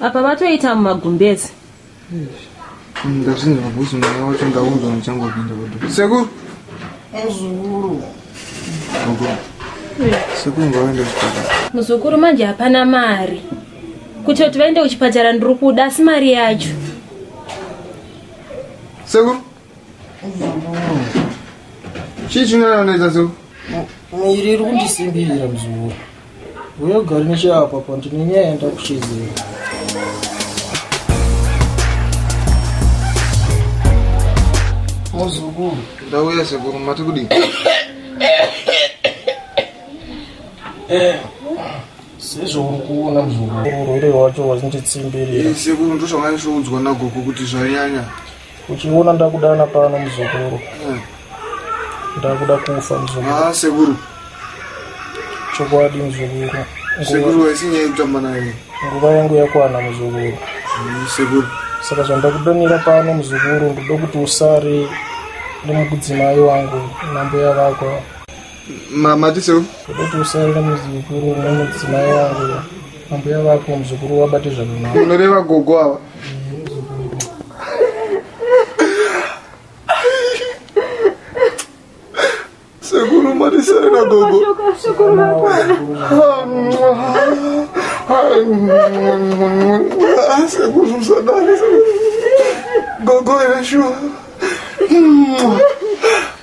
apa vatoita mumagumbezi ndazvinzi mabusi mwana wacho ndaunzwa muchangopinda kudu sekuru muzukuru sekuru ngawaenda kuchipatara muzukuru manje hapana mari kuti kuti vaende kuchipatara ndiri kuda asi mari yacho sekuru chii chinononoita so miri iri kundisimbira mzukuru uyo gari necheapa pa ndine nyaya yanda kushedzera muzukuru ndauya sekuru mati kudii sezvouri kuona mzukuru urwere wacho wazinditsimbiria sekuru ndosvanga ndisoudzwa nagogo kuti zvanyanya uchiona ndakudana pano muzukuru mm. ndakuda kufa muzukuru ah, sekuru chokwadi muzukuru sekuru waisi nyaya yekutamba naye nguva yangu yakwana muzukuru mm, sekuru saka zvandakudanira pano muzukuru ndoda kuti usare nemukudzimai wangu nambuya vako mati seu ndoda kuti usare nemuzukuru nemudzimai wangu Ambuya vako muzukuru wabate zvakanaka. Unoreva gogo ava. Sekuru marisere na gogo. Sekuru makwana. Sekuru msadari. Gogo ina shuwa.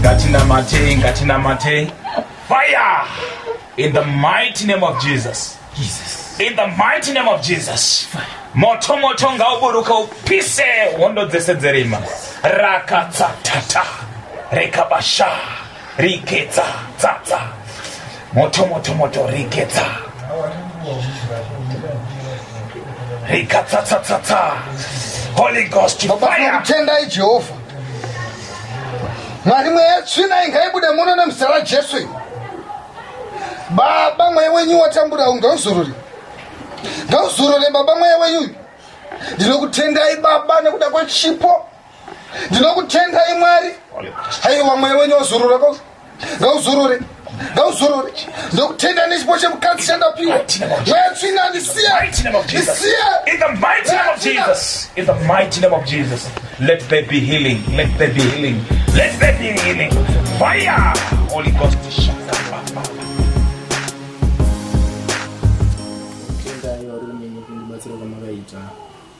ngatinamatei ngatinamatei fire in the mighty name of jesus Jesus. in the mighty name of jesus Fire. moto moto ngauburuka upise hondo dzese dzerima rakatsatata rekabasha Riketsa, tsa, tsa. Moto, moto, moto, riketsa. Rikatsa, tsa, tsa, tsa. Holy Ghost, Baba fire. tinokutendai Jehovha. Mwari mweya yetsvina ingaibude muno nemuzita raJesu. iri. Baba mweya wenyu watambura uyu ngauzorore. Ngauzorore baba mweya wenyu. uyu. Ndinokutendai baba nekuda kwechipo ndinokutendai mwari haiwa mweya wenyu wazurura ngauzurure ngauzorore ndokutenda nechipo chemukadzi chandapiwa mweya tsvina ndisiye Let there be healing. Let there be healing. Let there be healing. Fire! Holy Ghost, shut up.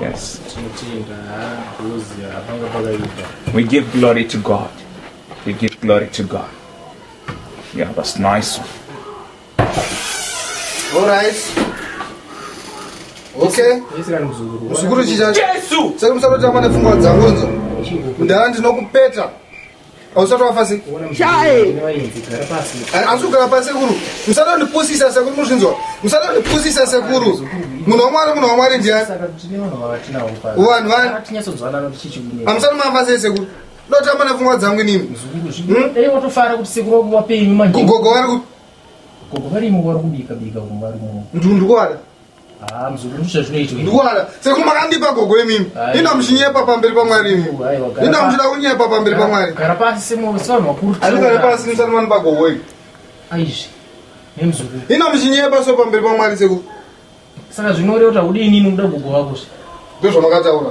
Yes. We give glory to God. We give glory to God. Yeah, that's nice. All right. Okay. Muzukuru chicha. Jesu. Saka musaroti amane pfungwa dzangonzo. Ndava ndinokupeta. ausati wafa se hausi kugara pa sekuru musada ndipusisa sekuru muzvinzwa musada ndipusisa sekuru munhu wamwari munhu wamwari ndiani vanhu vaniamusati mafa sei sekuru ndotamba nepfungwa dzangu inimi gogo vari kuti ndundikuwada Ah, mzukuru ndicho chinoitwa. Ndikuona seku makandipa gogo imimi. Inda muchinyepa pamberi pamwari imi. Inda muchida kunyepa pamberi pamwari. Gara pasi simo simo makuru. Ari gara pasi musana mani pagogo imi. Aizvi. Nemzukuru. Inda muchinyepa so pamberi pamwari seku. Saka zvinoreva kuti udini inoda gogo wako. Ndozvamakataura.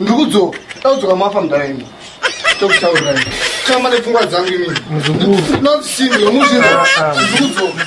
ndiri kudzoka taudzoka mafa mudhara imi tokutaurirai chama nepfungwa dzangu imi muzukuru not single muzvira ndiri kudzoka